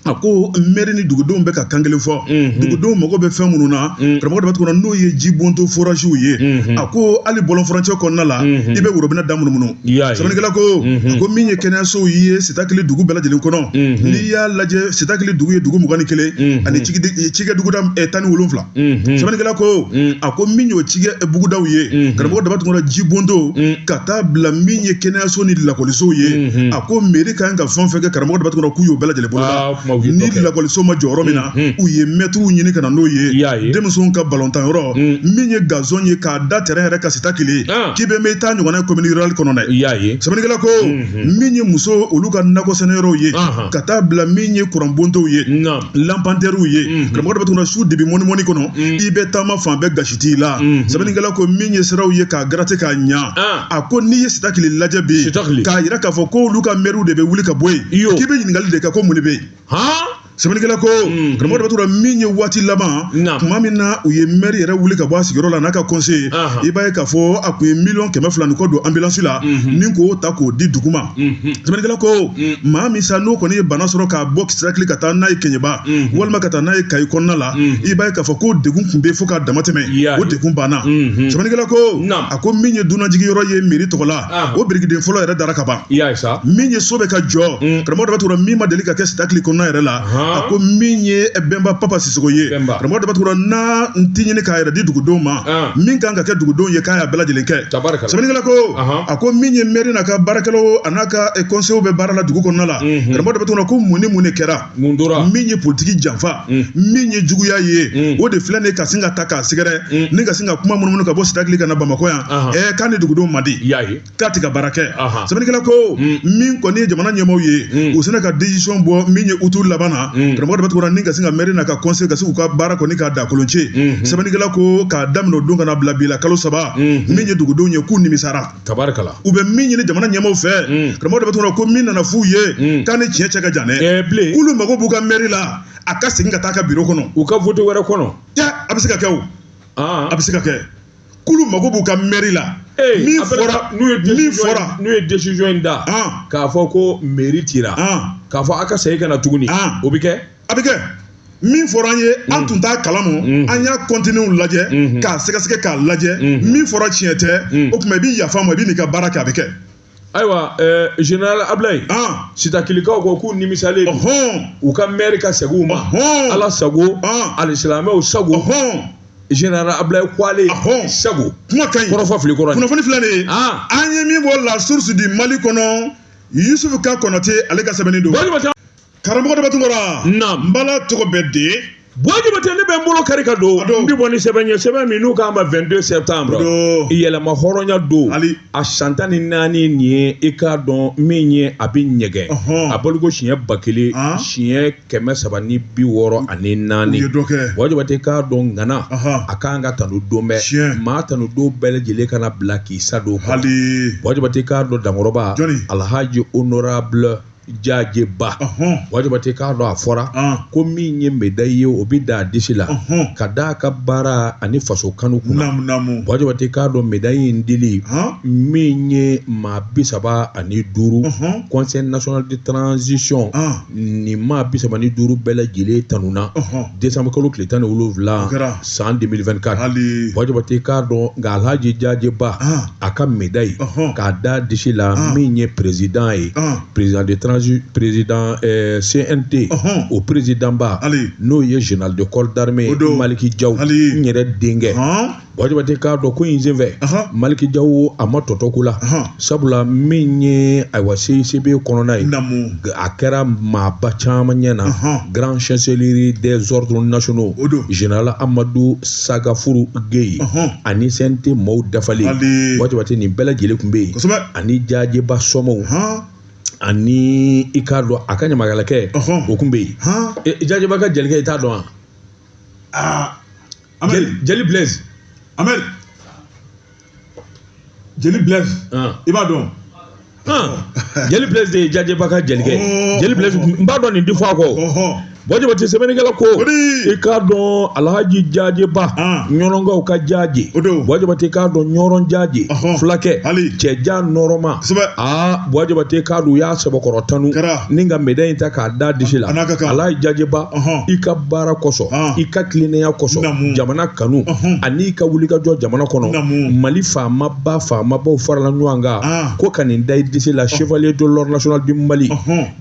a ko mɛri ni dugudenw bɛ ka kan kelen fɔ mhm. dugudenw mago bɛ fɛn minnu na mhm. karamɔgɔ daba tunkara n'o ye ji bonto forasiw ye mhm. a ko hali bɔlɔn furancɛ kɔnɔna la i bɛ worobinɛ da munumunu sɛbɛnnikɛla ko a ko min ye kɛnɛyasow ye sitakili dugu bɛɛ lajɛlen kɔnɔ n'i y'a lajɛ sitakili dugu ye dugu mugan ni kelen ani cikɛ buguda eh, tan ni wolonwula sɛbɛnnikɛla ko a ko min y'o cikɛ bugudaw ye karamɔgɔ daba tunkara ji bondo ka taa bila min ye kɛnɛyaso ni lakɔlisow ye a ko mɛri ka kan ka fɛn fɛn kɛ karamɔgɔ daba tunkara k'u y'o bɛɛ lajɛlen boloda ni lakɔliso ma jɔ yɔrɔ min na u ye mɛtiriw ɲini ka na n'o ye denmisɛnw ka balontan yɔrɔ min ye gazon ye k'a da tɛrɛn yɛrɛ kan sitakili ah. k'i bɛ mɛɛn i t'a ɲɔgɔn ye komini rurali kɔnɔ dɛ sɛbɛnnikɛla ko min ye muso olu ka nakɔ sɛnɛ yɔrɔw ye ka taa bila min ye kuran bontow ye lanpantɛriw ye mhm. karamɔgɔ daba tunkara su dibi mɔnimɔni kɔnɔ mhm. i bɛ taama fan bɛɛ gasi t'i la mhm. sɛbɛnnikɛla ko min ye siraw ye k'a garate k'a ɲa ah. a ko n'i ye sitakili lajɛ bi k'a yira k'a fɔ ko olu ka mɛriw de bɛ wuli ka bɔ yen k'i bɛ ɲininkali de kɛ ko mun de bɛ yen sɛbɛnnikɛla ko mm-hmm. karamɔgɔ daba tunkara min ye waati laban tuma min na u ye mɛri yɛrɛ wuli ka bɔ a sigiyɔrɔ la n'a ka kɔnseyi i b'a ye k'a fɔ a tun ye miliyɔn kɛmɛ fila ni kɔ don anbilansi la mm-hmm. ni k'o ta k'o di dugu ma sɛbɛnnikɛla ko maa min sa n'o kɔni ye bana sɔrɔ k'a bɔ sitakili ka taa n'a ye kɛɲɛba walima ka taa n'a ye kayi kɔnɔna la i b'a ye k'a fɔ ko degun tun bɛ fo k'a dama tɛmɛ o degun banna sɛbɛnnikɛla ko a ko min ye dunanjigi yɔrɔ ye mɛri tɔgɔ la o birikiden fɔlɔ yɛrɛ dara ka ban min ye so bɛ ka jɔ karamɔgɔ daba tunkara min ma deli ka kɛ sitakili kɔnɔna yɛrɛ la a ko min ye bɛnba papa sisoko ye karamɔgɔ daba tunkara n'a n ti ɲini k'a yɛrɛ di dugudenw ma min kan ka kɛ dugudenw ye k'a y'a bɛɛ lajɛlen kɛ sɛbɛnnikɛla ko a ko min ye mɛri n'a ka baarakɛlaw an'a ka kɔnseyew bɛ baara la dugu kɔnɔna la karamɔgɔ daba tunkara ko mun ni mun de kɛra min ye politiki janfa min ye juguya ye o de filɛ nin ka sin ka ta k'a sɛgɛrɛ ni ka sin ka kuma munumunu ka bɔ sitakili ka na bamakɔ yan ɛ k'a ni dugudenw man di k'a tɛ ka baara kɛ sɛbɛnnikɛla ko min kɔni ye jamana ɲɛmaaw ye u sinna ka desizɔn bɔ min ye utu laban na karamɔgɔ Daba Tunkara ni ka sin ka mɛri n'a ka kɔnsɛyi ka se u ka baara kɔni k'a da kolon ce sɛbɛnnikɛla ko k'a daminɛ o don ka na bila bi la kalo saba min ye dugudenw ye k'u nimisara tabarikala u bɛ min ɲini jamana ɲɛmaaw fɛ karamɔgɔ Daba Tunkara ko min nana f'u ye k'a ni tiɲɛ cɛ ka jan dɛ bilen k'olu mago b'u ka mɛri la a ka segin ka taa ka biro kɔnɔ u ka vote wɛrɛ kɔnɔ a bɛ se ka kɛ o a bɛ se ka kɛ k'olu mago b'u ka mɛri la min fɔra n'o ye decision in da k'a fɔ ko mairie tira k'a fɔ a ka segin ka na tuguni o bɛ kɛ a bɛ kɛ min fɔra an ye an mm. tun t'a kalama mm. an y'a contenu lajɛ mm-hmm. k'a sɛgɛsɛgɛ k'a lajɛ mm-hmm. min fɔra tiɲɛ tɛ mm. o tuma i bɛ yafa ma i bɛ n'i ka baara kɛ a bɛ kɛ ayiwa général Abilayi Sitakilikaw ko k'u nimisalen don u ka mɛri ka segin u ma ala sago alisilamɛw sago général Abilayi ko ale sago kuma ka kɔrɔfɔ fili kɔrɔ kunnafoni filɛ nin ye an ye min bɔ La Source du Mali kɔnɔ yusufu ka Konate ale ka sɛbɛnni don karamɔgɔ Daba Tunkara n bala tɔgɔ bɛ di Buwa Jabate ne bɛ n bolo kari ka don n bɛ bɔ ni sɛbɛn ye sɛbɛn min n'u k'a ma 22 septembre yɛlɛma hɔrɔnya don a san tan ni naani nin ye i k'a dɔn min ye a bɛ ɲɛgɛn a bɔliko siɲɛ ba kelen ah. siɲɛ kɛmɛ saba ni bi wɔɔrɔ ani naani Buwa Jabate k'a dɔn ŋana a ka kan ka tanu don bɛɛ maa tanu don bɛɛ lajɛlen kana bila k'i sa don Buwa Jabate k'a dɔn dankɔrɔba alhaji honorable Jaje Ba Buwa Jabate k'a dɔn a fɔra ko min ye médaille ye o bɛ da a disi la ka d'a ka baara ani faso kanu kunna Buwa Jabate k'a dɔn médaille in dili min ye maa bi saba ani duuru conseil national de transition nin maa bi saba ni duuru bɛɛ lajɛlen tanuna décembre kalo tile tan ni wolonwula san 2024 Buwa Jabate k'a dɔn nka Alhaji Jaje Ba a ka médaille k'a d'a disi la min ye président ye président de transi président euh, CNT o présidentba n'o ye général de corps d'armée Maliki Diaw n yɛrɛ denkɛ Buwa Jabate k'a dɔn ko in senfɛ Maliki Diaw a ma tɔ to ko la sabula min ye ayiwa CICB kɔnɔna ye a kɛra maaba caman ɲɛ na grand chancelier des ordres nationaux général amadu sagafuru geyi ani CNT maaw dafalen Buwa Jabate nin bɛɛ lajɛlen tun bɛ yen ani Jaje Ba somaaw ani i k'a dɔn a ka ɲamakalakɛ o tun bɛ yen Jaje Ba ka jelikɛ i t'a dɔn wa jeli blaise jeli blaise i b'a dɔn jeli blaise de ye jaje ba ka jelikɛ ye jeli blaise n b'a dɔn nin difa kɔ buwa jabatɛ sɛbɛnnikɛla ko i k'a dɔn alhaji jaje ba ɲɔnɔnkaw ka jaje buwa jabatɛ i k'a dɔn ɲɔrɔn jaje fulakɛ cɛ jan nɔɔrɔma aa buwa jabatɛ i k'a dɔn u y'a sɛbɛkɔrɔ tanu ni ka médaille in ta k'a da disi la alhaji jaje ba i ka baara kosɔn i ka tilennenya kosɔn jamana kanu ani i ka wulikajɔ jamana kɔnɔ mali faamaba faamabaw farala ɲɔgɔn kan ko ka nin da i disi la chevalier de l'ordre national du mali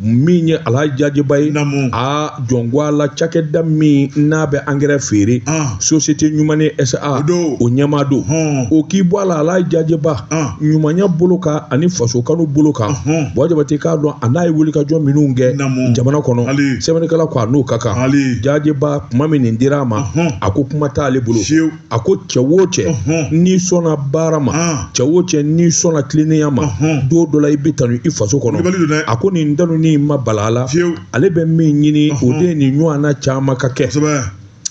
min ye alhaji jaje ba ye a jɔnguwa la cakɛda min n'a bɛ angɛrɛ feere société ɲumani sa o ɲɛmaa don o k'i bɔ a la alhaji jaje ba ɲumanya bolo kan ani faso kanu bolo kan buwa jabatɛ i k'a dɔn a n'a ye wulikajɔ minnu kɛ jamana kɔnɔ sɛbɛnnikɛla ko a n'o ka kan jaje ba kuma min nin dira a ma a ko kuma t'ale bolo a ko cɛ wo cɛ n'i sɔnna baara ma cɛ wo cɛ n'i sɔnna tilennenya ma don dɔ la i bɛ tanu i faso kɔnɔ a ko nin tanu nin ma bala a la ale bɛ min ɲini o de ye nin ɲɔgɔnna caman ka kɛ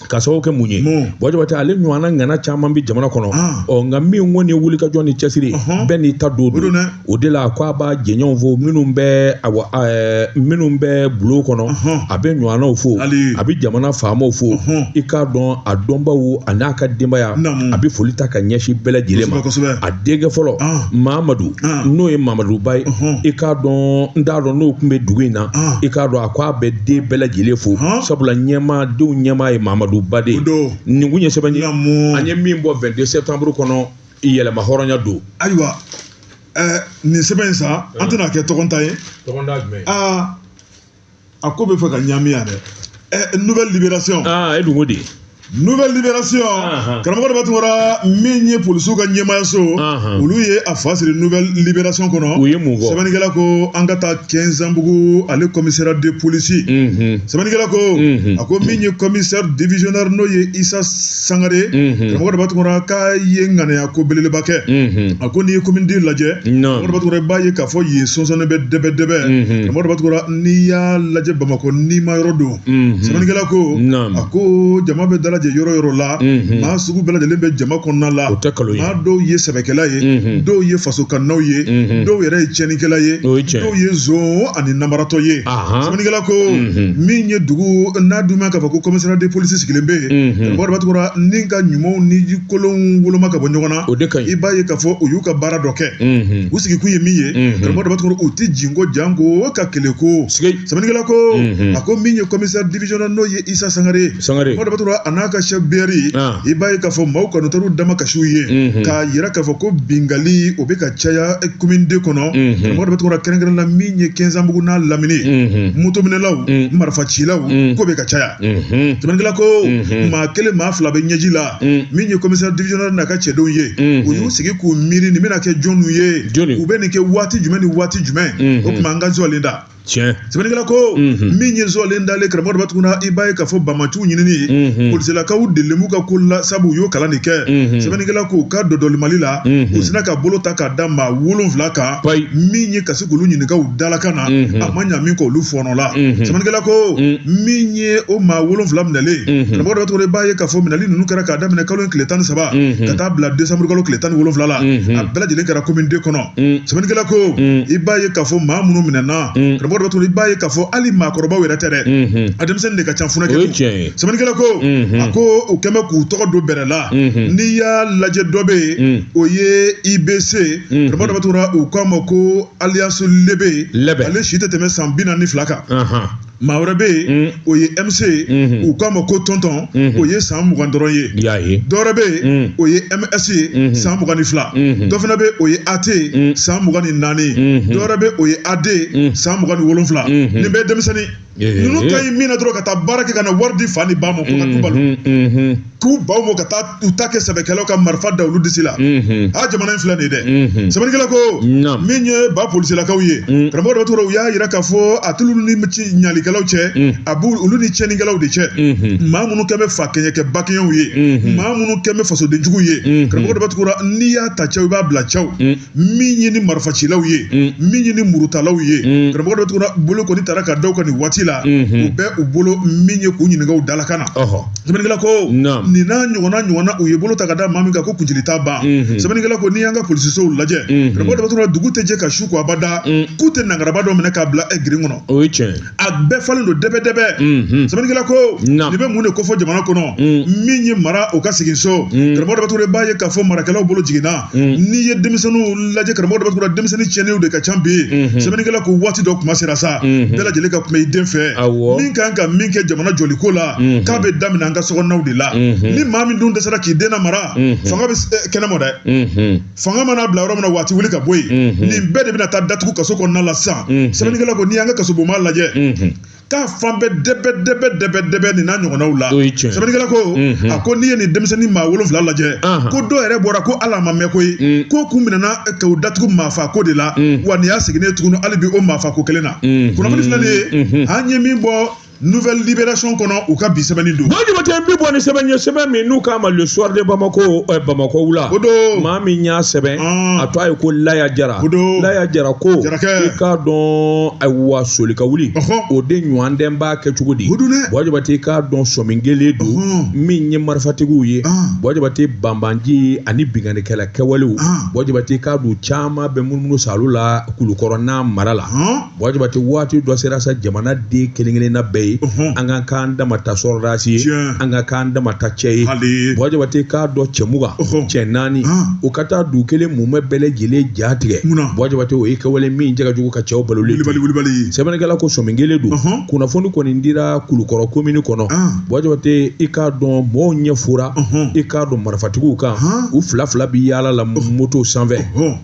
Ka sababu kɛ mun ye buwa jabatɛ ale ɲɔgɔnna ŋana caman bɛ jamana kɔnɔ ɔ nka min kɔni ye wulikajɔ ni cɛsiri bɛɛ n'i ta don don o de la a ko a b'a jɛɲɔgɔnw fo minnu bɛ bulon kɔnɔ a bɛ ɲɔgɔnnaw fo a bɛ jamana faamaw fo i k'a dɔn a dɔnbaw a n'a ka denbaya a bɛ foli ta ka ɲɛsin bɛɛ lajɛlen ma a denkɛ fɔlɔ mamadu n'o ye mamadu ba ye i k'a dɔn n t'a dɔn n'o tun bɛ dugu in na i k'a dɔn ko a bɛ den bɛɛ lajɛlen fo sabula ɲɛmaa denw ɲɛmaa ye mamadu ba de don nin ye sɛbɛn ye an ye min bɔ vingt-deux septembre kɔnɔ yɛlɛma hɔrɔnya don ayiwa nin sɛbɛn in sa an tɛna a kɛ tɔgɔ ta ye a ko bɛ fɛ ka ɲami yan dɛ nouvelle libération e dun ko di nouvelle libération uh-huh. karamɔgɔ daba tunkara min ye polisiw ka ɲɛmaayaso uh-huh. olu ye a fasiri nouvelle libération kɔnɔ u ye mun fɔ sɛbɛnnikɛla ko an ka taa kɛnzanbugu ale commissariat de police mm-hmm. sɛbɛnnikɛla ko mm-hmm. a ko min ye commissaire divisionnaire n'o ye isa sangare mm-hmm. karamɔgɔ daba tunkara k'a ye ŋanaya ko belebeleba kɛ a ko n'i ye commune deux lajɛ karamɔgɔ daba tunkara i b'a ye k'a fɔ yen sonsɔnnen bɛ dɛbɛdɛbɛ karamɔgɔ daba tunkara n'i y'a lajɛ bamakɔ nima yɔrɔ don sɛbɛnnikɛla ko a ko jama bɛ dalajɛ yɔrɔ yɔrɔ la maa sugu bɛɛ lajɛlen bɛ jama kɔnɔna la o tɛ nkalon maa dɔw ye sɛbɛkɛla ye dɔw ye faso kanunaw ye dɔw yɛrɛ ye cɛnnikɛla ye dɔw ye zon ani nanbaratɔ ye sɛbɛnnikɛla ko min ye dugu n'a dun k'a fɔ ko commissariat de police sigilen bɛ yen daba tunkara ni ka ɲumanw ni kolonw woloma ka bɔ ɲɔgɔn na o de ka i b'a ye k'a fɔ u y'u ka baara dɔ kɛ u sigikun ye min ye karamɔgɔ u tɛ jinkɔ janko ka kɛlɛku sɛbɛnnikɛla ko a ko min ye commissaire divisionnaire n'o ye Isa Sangare karamɔgɔ Daba Tunkara a n'a ka chef BRI i b'a ye k'a fɔ maaw kɔni taar'u damakasi u ye k'a yira k'a fɔ ko bingali o bɛ ka caya commune deux kɔnɔ karamɔgɔ Daba Tunkara kɛrɛnkɛrɛn la min ye Kɛnzanbugu n'a lamini motominɛlaw marifacilaw ko bɛ ka caya sɛbɛnnikɛla ko maa kelen maa fila bɛ ɲɛji la min ye commissaire divisionnaire n'a ka cɛdenw ye u y'u sigi k'u miiri nin bɛna kɛ jɔniw ye u bɛ nin kɛ waati jumɛn ni waati jumɛn o tuma an ka zɔlen da tiɲɛ sɛbɛnnikɛla ko mhm. min ye zɔlen dalen karamɔgɔ Daba Tunkara i b'a ye k'a fɔ banbaanciw ɲinini mhm. polisilakaw delilen b'u ka ko la sabu u y'o kalan de kɛ mhm. sɛbɛnnikɛla ko u ka dɔdɔli mali la u sinna ka bolo ta k'a da maa wolonfila kan min ye ka se k'olu ɲininka u dalakan na a ma ɲa min kɔ olu fɔɔnɔ la sɛbɛnnikɛla ko min ye o maa wolonfila minɛlen karamɔgɔ Daba Tunkara i b'a ye k'a fɔ minɛli ninnu kɛra k'a daminɛ kalo in tile tan ni saba ka taa bila décembre kalo tile tan ni wolonfila la a bɛɛ lajɛlen kɛra commune deux kɔnɔ sɛbɛnnikɛla ko i b'a ye k'a fɔ maa minnu minɛna karamɔgɔ Daba Tunkara i b'a ye k'a fɔ hali maakɔrɔbaw yɛrɛ tɛ dɛ a denmisɛnnin de ka ca funankɛ sɛbɛnnikɛla ko a ko u kɛn bɛ k'u tɔgɔ don bɛrɛ la n'i y'a lajɛ dɔ bɛ yen o ye IBC karamɔgɔ Daba Tunkara u k'a ma ko alias Lebe ale si tɛ tɛmɛ san bi naani ni fila kan maa wɛrɛ bɛ yen o ye MC ye u k'a ma ko Tonton o ye san mugan dɔrɔn ye i y'a ye dɔ wɛrɛ bɛ yen o ye MS ye san mugan ni fila dɔ fana bɛ o ye AT ye san mugan ni naani dɔ wɛrɛ bɛ o ye AD ye san mugan ni wolonfila nin bɛɛ ye denmisɛnnin ninnu ka ɲi min na dɔrɔn ka taa baara kɛ ka na wari di fa ni ba ma ko ka du balo. k'u ban o ma ka taa u ta kɛ sɛbɛkɛlaw ka marifa da olu disi la a jamana in filɛ nin ye dɛ sɛbɛnnikɛla ko min ye ba polisilakaw ye karamɔgɔ Daba Tunkara u y'a yira k'a fɔ a t'olu ni ɲalikɛlaw cɛ a b'u olu ni cɛnnikɛlaw de cɛ maa minnu kɛ bɛ fa kɛɲɛ kɛ ba kɛɲɛw ye maa minnu kɛ bɛ fasodenjugu ye karamɔgɔ Daba Tunkara n'i y'a ta cɛw i b'a bila cɛw min ye ni marifacilaw ye mm. min ye ni murutalaw ye mm. karamɔgɔ Daba Tunkara bolo kɔni tara ka da u kan nin waati la mm-hmm. u bɛ u bolo min ye k'u ɲininka u dalakan na sɛbɛnnikɛla ko nin n'a ɲɔgɔnna ɲɔgɔnna u ye bolo ta ka da maa min kan ko kuncili t'a ban mm-hmm. sɛbɛnnikɛla ko n'i y'an ka polisisow lajɛ mm-hmm. karamɔgɔ Daba Tunkara dugu tɛ jɛ ka su ko abada mm. k'u tɛ nangaraba dɔ minɛ k'a bila ɛ grille kɔnɔ a bɛɛ falen don dɛbɛdɛbɛ sɛbɛnnikɛla ko nin bɛ mun de kofɔ jamana kɔnɔ min ye mara o ka segin so karamɔgɔ Daba Tunkara b'a ye k'a fɔ marakɛlaw bolo jiginna n'i ye denmisɛnninw lajɛ karamɔgɔ Daba Tunkara denmisɛnnin tiɲɛnenw de ka ca bi sɛbɛnnikɛla ko waati dɔ kuma sera sa bɛɛ lajɛlen ka kuma i den fɛ min kan ka min kɛ jamana jɔli ko la k'a bɛ daminɛ an ka sokɔnɔnaw de la ni maa min dun dɛsɛra k'i den mara fanga bɛ kɛnɛma dɛ fanga mana bila yɔrɔ min na waati wuli ka bɔ yen nin bɛɛ de bɛna taa datugu kaso kɔnɔna la sisan sɛbɛnnikɛla ko n'i y'an ka kasobonba lajɛ k'a fan bɛɛ dɛbɛ dɛbɛ dɛbɛ dɛbɛ nin n'a ɲɔgɔnnaw la sɛbɛnnikɛla ko a ko n'i ye nin denmisɛnnin maa wolonfila lajɛ ko dɔw yɛrɛ bɔra ko ala ma mɛn koyi k'u kun minɛna ka u datugu maafa ko de la wa nin y'u seginnen tuguni hali bi o maafa ko kelen na kunnafoni filɛ nin ye an ye min bɔ nouvelle libération kɔnɔ u ka bi sɛbɛnni don. buwa jabate bi bɔ ni sɛbɛn ye sɛbɛn min n'u k'a ma le soir de bamako ɛ bamakɔ wula. o don maa min y'a sɛbɛn. a tɔɔ ye ko laya jara. o don laya jara ko. jarakɛ i k'a dɔn ayiwa soli ka wuli. o de ɲɔgɔn dɛn b'a kɛ cogo di. o don dɛ buwa jabate i k'a dɔn sɔmin kɛlen don. min ye marifatigiw ye. buwa jabate banbaanci ani binkannikɛla kɛwalew. buwa jabate i k'a dɔn caman bɛ munumunu saalo la kulukɔrɔ n'a mara la. Buwa Jabate waati dɔ sera sa jamana den kelen-kelenna bɛɛ ye Ɔhɔn. an ka k'an dama ta sɔrɔdasi ye Tiɲɛ. an ka k'an dama ta cɛ ye Hali. Buwa Jabate k'a dɔn cɛ mugan Ɔhɔn. cɛ naani Han. u ka taa dugu kelen mumɛ bɛɛ lajɛlen ja tigɛ Munna? Buwa Jabate o ye kɛwale min cɛ ka jugu ka cɛw balolen to. wulibali wulibali sɛbɛnnikɛla ko sɔmin kɛlen don Ɔhɔn. kunnafoni kɔni dira kulukɔrɔ komini kɔnɔ An. Buwa Jabate i k'a dɔn mɔɔw ɲɛ fora Ɔhɔn. i k'a dɔn marifatigiw kan Han. u fila fila bi yaala la moto sanfɛ Ɔhɔn.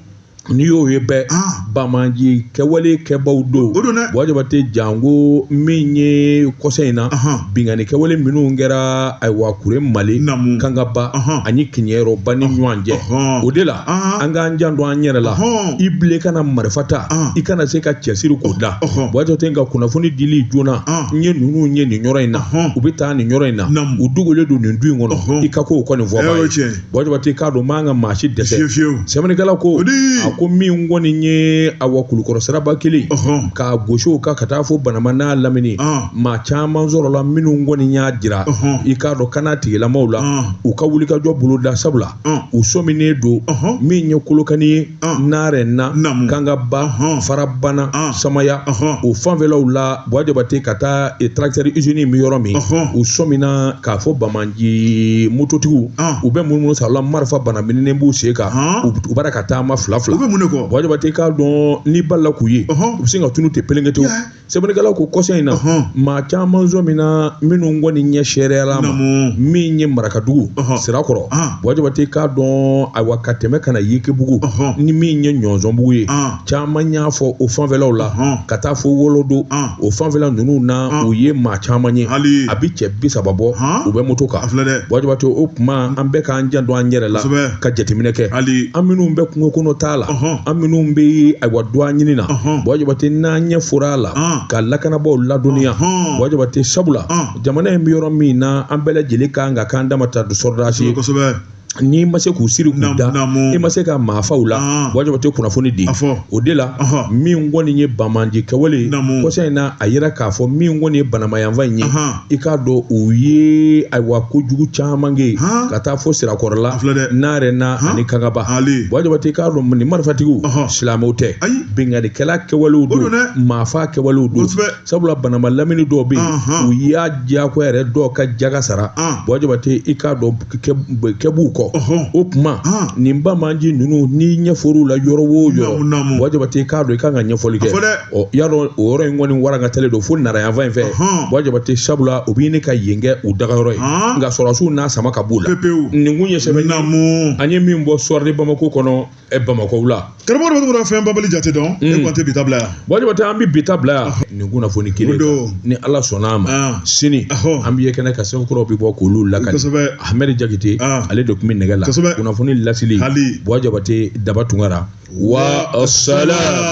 n'i y'o ye bɛɛ ah. banbaanci kɛwale kɛbaw don o don dɛ buwa jabate janko min ye kɔsa in na binkanni kɛwale minnu kɛra ayiwa kuremale kangaba ani kiɲɛrɔba ni ɲɔgɔn cɛ o de la an k'an janto an yɛrɛ la i bilen kana marifa ta i kana se ka cɛsiri k'o da buwa jabate nka kunnafoni dili joona n ye ninnu ye nin yɔrɔ in na u bɛ taa nin yɔrɔ in na u dogolen don nin du in kɔnɔ i ka k'o kɔni fɔ buwa ja bate k'a dɔn man ka maa si dɛsɛ fewu sɛbɛnnikɛla ko a ko min kɔni nin ye ayiwa kulukɔrɔ siraba kelen k'a gosiw kan ka taa fɔ banamba n'a lamini maa caman sɔrɔla minnu kɔni y'a jira i k'a dɔn lakana tigilamaw la u ka wuli ka jɔ bolo da sabula u sɔminen don min ye kolokani ye narena kangaba farabana samaya o fanfɛlaw la buwa jabate ka taa tarakitɛri izini bɛ yɔrɔ min u sɔmina k'a fɔ banbaan ci mototigiw u bɛ munumunu sa la marifa banamininen b'u sen kan u b'a la ka taama fila fila u bɛ mun kɔ buwa jabate k'a dɔn n'i balala k'u ye u bɛ sin ka tunun ten pelengete sɛbɛnnikɛla ko kɔsa in na maa caman sɔmina minnu kɔni ɲɛ seereyala ma min ye marakadugu sirakɔrɔ buwa jabate k'a dɔn ayiwa ka tɛmɛ ka na yelekebugu ni min ye ɲɔnzɔnbugu ye caman y'a fɔ o fanfɛlaw la ka taa fo wolodo o fanfɛla ninnu na u ye maa caman ye a bɛ cɛ bi saba bɔ u bɛ moto kan buwa jabate o tuma an bɛɛ k'an janto an yɛrɛ la ka jateminɛ kɛ an minnu bɛ kungokɔnɔtaa la an minnu bɛ ayiwa dɔɔ ɲini na buwa jabate n'an ɲɛ fora a la ka lakanabaw ladɔnniya buwa jabate sabula jamana in bɛ yɔrɔ min na an bɛɛ lajɛlen kan ka k'an dama ta du sɔrɔdasi ye n'i ma se k'u siri k'u da i ma se ka maafaw la buwa jabate kunnafoni di o de la min kɔni ye banbaanci kɛwale kɔsa in na a yira k'a fɔ min kɔni ye banamba yanfan in ye i k'a dɔn u ye ayiwa kojugu caman kɛ ka taa fo sirakɔrɔla narena ani kangaba buwa jabate k'a dɔn nin marifatigiw silamɛw tɛ binkannikɛla kɛwalew don maafa kɛwalew don sabula banamba lamini dɔw bɛ yen u y'a diyagoya yɛrɛ dɔw ka jaka sara buwa jabate i k'a dɔn kɛ b'u kɔ o tuma nin banbaanci ninnu n'i ɲɛ fɔr'u la yɔrɔ wo yɔrɔ buwa jabate k'a dɔn i ka kan ka ɲɛfɔli kɛ ɔ y'a dɔn o yɔrɔ in kɔni walankatalen don fo nara yanfan in fɛ buwa jabate sabula u bɛ ɲini ka yen kɛ u dagayɔrɔ ye nka sɔrɔdasiw n'a sama ka b'u la nin kun ye sɛbɛn an ye min bɔ soir de bamakɔ kɔnɔ ɛ bamakɔ wula karamɔgɔ dɔ bɛ to ka fɛn babali jate dɔn e kɔni tɛ bi ta bila yan buwa jabate an bɛ bi ta bila yan nin kunnafoni kelen don ni ala sɔnna a ma sini an bɛ ye kɛnɛ kan sɛbɛn kuraw bɛ bɔ k'olu lakali kosɛbɛ ahmed jakite ale de tun bɛ nɛgɛ la kosɛbɛ kunnafoni laseli buwa jabate daba tunkara wa salam